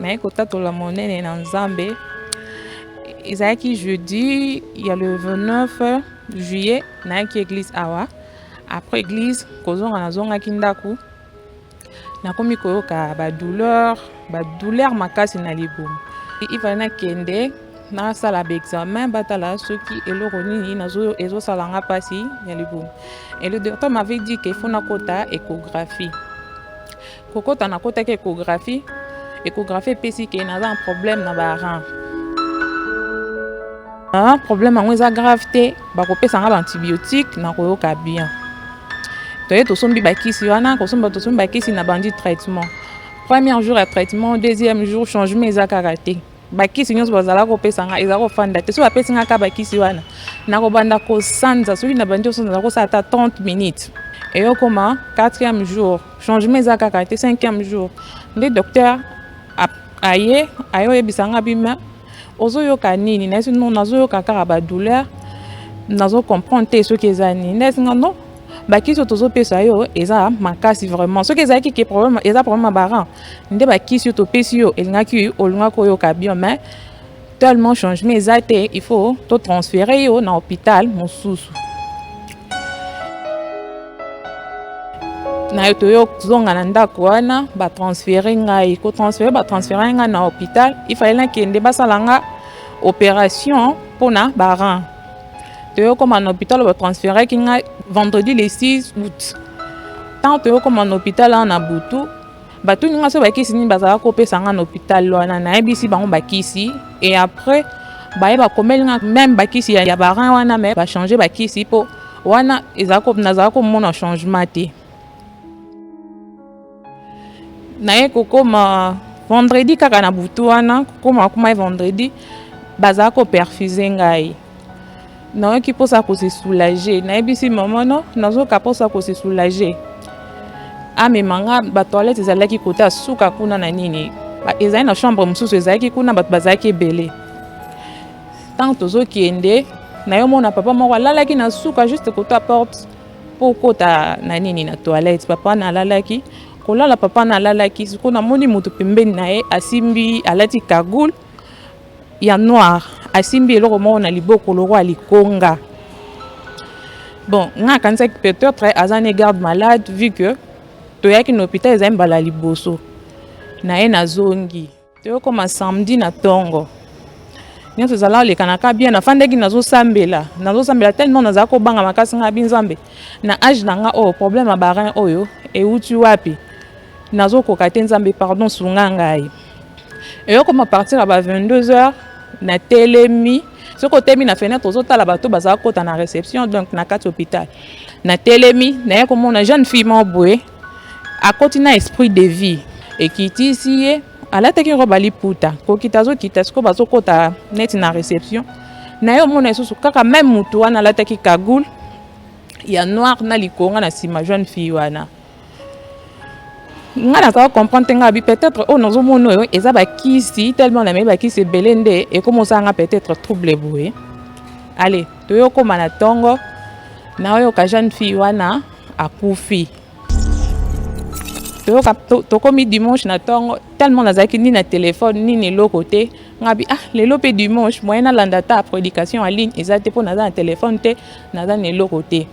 naye kotatola monene na nzambe ezalaki jeudi ya le 29 juillet nayaki église awa après église kozonga nazongaki ndako nakomi koyoka badouleur badouleur makasi na libumu ifale nakende nasala baexamen batala soki eloko nini ezosala nga mpasi ya libumu et le docteur m'avait dit que faut nakota échographie kokota nakotaki échographie échographie epesi ke naza na problème na baran na problème yango eza grave te bakopesa nga baantibiotique nakoyoka bien toye tosombi bakisi wana kosomba tosombi bakisi na bandi traitement premier jour ya traitement deuxième jour changement eza kaka te bakisi nyonso bazalaka kopesa ngai ezala kofanda te soki bapesi ngai kaka bakisi wana nakobanda kosanza soki nabandi kosanza nakosala ata 30 minutes eyokoma 4e jour changement eza kaka te 5e jour nde docteur aye aye oyebisa ngai bima ozoyoka nini nayesi no nazoyoka kaka badouleur nazo comprendre te soki eza nini nayesi ngai no bakisi oyo tozopesa yo eza makasi vraiment soki ezalaki ke problème eza problème ya baran nde bakisi oyo topesi yo elingaki olingaki oyoka bien mais tellement changement eza te il faut totransfere yo na hôpital mosusu nayo toyozonga na ndako wana batransfere ngai kotransfere batransfere ngai na hôpital ifale nakende basala nga opération mpona baran toyokoma na hôpital ba transferaki ngai vendredi le 6 août ntango toyokoma na hôpital wana na butu batuni ngai so bakisi nini bazalaka kopesa ngai na hôpital wana nayebisi bango bakisi e après baye bakomeli ngai meme bakisi ya, ya barin wana me bachange bakisi mpo wana nazalaka komona changement te naye kokoma vendredi kaka na butu wana kokoma akoma vendredi bazala koperfuse ngai nayoki mposa kose soulage nayebisi mama no nazoka mposa kose soulage amema nga batoilette ezalaki kota suka kuna na nini ezali na chambre mosusu ezalaki kuna bato bazalaki ebele ntango tozokende nayomona papa moko alalaki na suka juste kota porte mpo okota na nini na toilette papa nalalaki kolala papa nalalaki siko namoni moto pembeni na ye asimbi alati kagoule ya noir asimbi eloko moko na liboko lokola likonga bon ngai akanisaki peut-être aza ne garde malade vu que toyaki na hôpital ezali mbala liboso na ye nazongi toyokoma samedi na tongo nyonso ezala olekanaka bien nafandaki nazosambela nazosambela tellement nazala kobanga makasi ngai bi nzambe na age na nga oyo oh, problème ya barin oyo euti wapi nazokoka te nzambe pardon sunga ngai eyokoma partir ya ba 22 heures na telemi soki otemi na fenêtre ozotala bato bazala kota na réception donc na kati hôpital na telemi naye komona jeune fille moko boye Akoti na esprit de vie ekitisi ye alataki robe aliputa kokita azokita sikoyo bazokota neti na reception na ye omona lisusu kaka meme motu wana alataki kagoule ya noir na likonga na nsima jeune fille wana ngai nazala comprendre te ngai abi peut-être oyo oh, nazomona oyo eza bakisi tellement namei bakisi ebele nde ekomi osala ngai peut-être trouble boye ale toyokoma na ntongo naoyoka jeune fille wana akufi toyoka tokomi dimanche na ntongo tellement nazalaki ni na telefone nini eloko te ngabi ah lelo mpe dimanche moyen nalanda ata prédication en ligne eza te mpo naza na telefone te naza na eloko te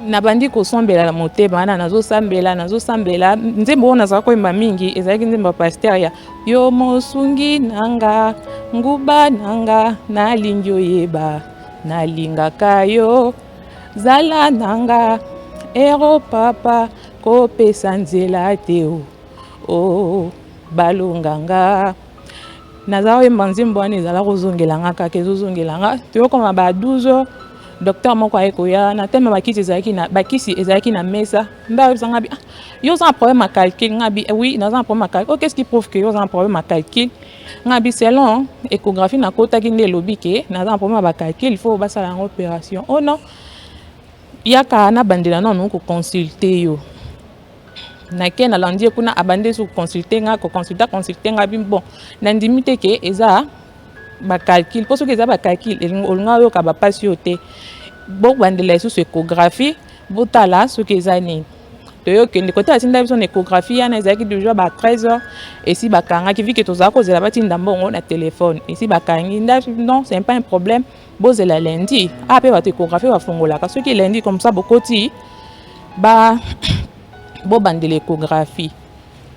nabandi kosombela na motema wana nazosambela nazosambela nzembo oyo nazalaki koyemba mingi ezalaki nzembo ya paster ya yo mosungi na nga nguba na nga nalingi oyeba nalingaka yo Zala na nga ero papa kopesa nzela te o oh, oh, balonga nga naza koyemba nzembo wana ezala kozongela nga kaka ezozongela nga toyokoma ba 12 heures docteur moko aye koya na teme bakisi ezalaki na bakisi ezalaki na mesa mbe ayebisa nga bi ah, yo oza na problème ya calcul nga bi eh oui naza na problème ya calcul oh qu'est ce qui prouve que yo oza na problème ya calcul nga bi selon échographie nakotaki nde elobi ke naza na problème ya bacalcule il faut basala yango opération o oh non yaka nabandela nanu koconsulte yo nake nalandi ye kuna abandi esu koconsulte nga koconsulte aconsulte nga bi bon nandimi te ke eza bacalcule mpo soki eza bacalcule olinga oyoka bapasi oyo te bobandela lisusu échographie botala soki eza nini toyokende kote atinda biso na échographie yana ezalaki déjà ba 13 heures esi bakangaki vike tozala kozela batinda mbongo na telefone esi bakangi nda non c'est pas un problème bozela lundi a ah, mpe bato échographie bafungolaka soki lundi comme ça bokoti ba bobandela échographie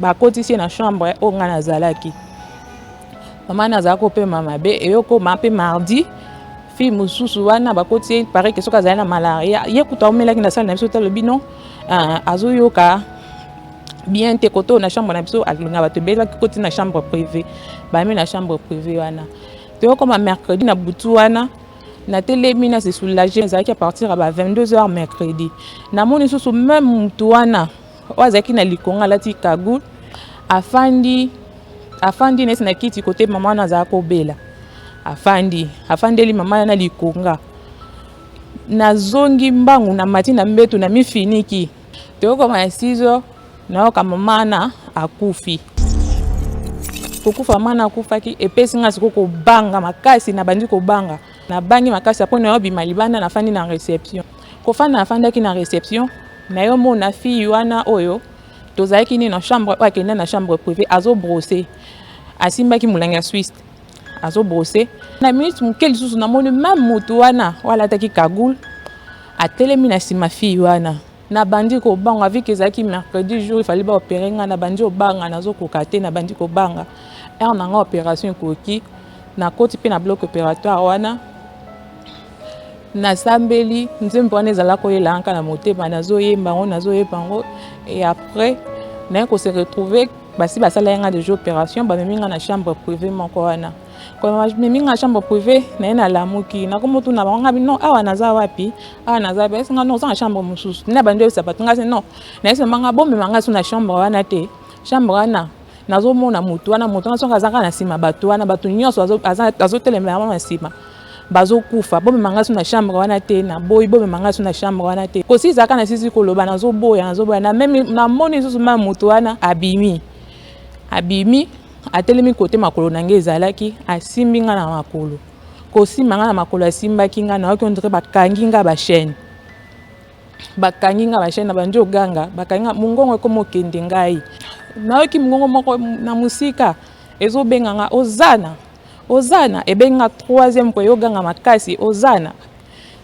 bakotisi ye na chambre oyo ngai nazalaki mama nazala kopema mabe eyokoma mpe mardi fille mosusu wana bakoti ye pare ke soki azali na malaria ye kutu aumelaki na sale na biso te alobi non euh, azoyoka bien te koto na chambre na biso alinga bato ebelaki koti na chambre privée bamemi na chambre privée wana toyokoma mercredi na butu wana natelemi na se soulage ezalaki apartir ya ba 22 heures mercredi namoni susu meme motu wana oyo azalaki na likonga alati cagoule afandi afandi neti na kiti kote mama wana azalaki kobela afandi afandeli mama na likonga nazongi mbangu na mati na mbetu na mifiniki toyokoma ya 6 heures nayoka mama wana akufi kokufa mama wana akufaki epesi ngai sikoyo kobanga makasi nabandi kobanga Nabangi makasi apo na yo bima libanda nafandi na reception. Kofanda nafandaki na reception nayomona fille wana oyo tozalaki nini na chambre oyo akenda na chambre privée azobrose asimbaki molangi ya swisse azobrose na minute moke lisusu namoni meme motu wana oyo alataki kagoule atelemi na nsima fille wana Na bandi kobanga vu que ezalaki mercredi jour il fallait ba opérer nga na bandi obanga nazo koka te na bandi kobanga heure na nga opération ekoki na koti pe na bloc opératoire wana nasambeli nzembo wana ezala koyela yanka na motema nazoyemba yango nazoyemba yango et après naye kose retrouve basi basala ye nga deja opération bamemi nga na chambre privé moko wana bamemi nga chambre privé naye nalamuki nakomotuna bango ngabi non awa naza wapi awa naza wapi ayesi nga non oza na chambre mosusu nde abandi oyebisa bato nga se non nayesi mama nga bomema nga so na chambre wana te chambre wana nazomona motu wana motu wana soki aza kaka na nsima bato wana bato nyonso azotelemela wana na nsima bazokufa bomema nga so na chambre wana te naboyi bomema nga so na chambre wana te kosi ezalaka na sisi koloba nazoboya nazoboya namoni lisusu ma moto wana abimi abimi Atelemi kote makolo na ngai ezalaki, asimbi ngai na makolo. Kosimba ngai na makolo, asimbaki ngai, nayoki ondire bakangi ngai bashene. Bakangi ngai bashene, na bandi oganga, bakangi ngai, mongongo ekoma okende ngai. Nayoki mongongo moko na mosika, ezobenga ngai, ozana, ozana, ebengi ngai troisième po eyoganga makasi, ozana.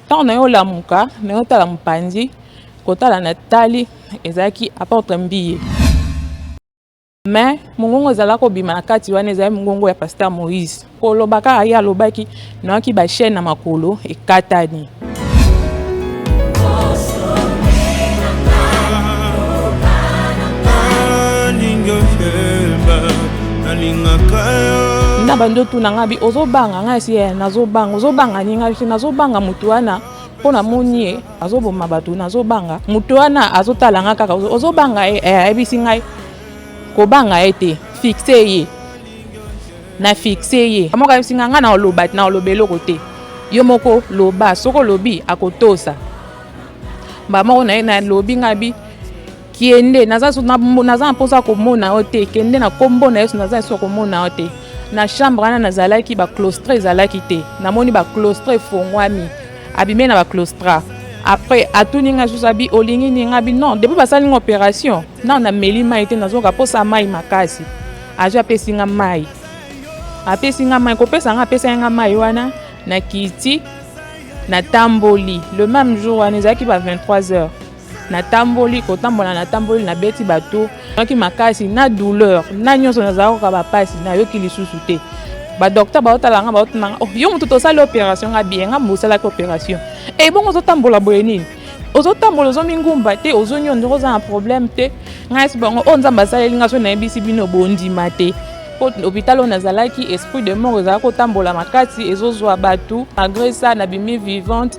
Ntango nayo olamuka, nayo tala mopanzi, kotala na tali, ezalaki apotre mbiye. Mais mongongo ezala kobima na kati wana ezali mongongo ya pasteur Moïse koloba kaka ye alobaki noyaki ba chaîne na makolo ekatani na bandi otuna ngai bi ozobanga ngai si eh, nazobanga ozobanga ni ngai si nazobanga motu wana mpo namoni ye azoboma bato nazobanga moto wana azotala nga kaka ozobanga ye eh, ayebisi ngai kobanga ye te fixe ye na fixe ye moko ayebisi ngai ngai naoloba naoloba eloko te yo moko loba soki olobi akotosa mbala moko na ye nalobi ngai bi Kende, naza na mposa ya komona yo te. Kende na kombo na Yesu, naza na ya komona yo te. Na chambre wana nazalaki ba clostre ezalaki te. Namoni ba clostre efongwami. Abime na ba clostra. Après atuni nga susu abi olingi nini abi non depuis basali nga operation nao nameli mai te nazoka mposa mai makasi azwi apesi nga mai apesi nga mai kopesa nga apesaki nga mai wana na kiti natamboli le même jour wana ezalaki ba 23 heures natamboli kotambola natamboli nabeti bato naki makasi na douleur na nyonso nazala koka bapasi nayoki lisusu te badokter baotala nga baotuna nga oh, yo motu tosali opération nga biye nga mosalaki opération e eh, bongo ozotambola boye nini ozotambola ozomi ngumba te ozongi yo ndeko oza na problème te ngai esi bango oyo oh, nzambe asaleli nga so nayebisi bino bondima te mpo hôpital oyo nazalaki esprit de mort ezalaki kotambola makasi ezozwa bato malgré ça nabimi vivante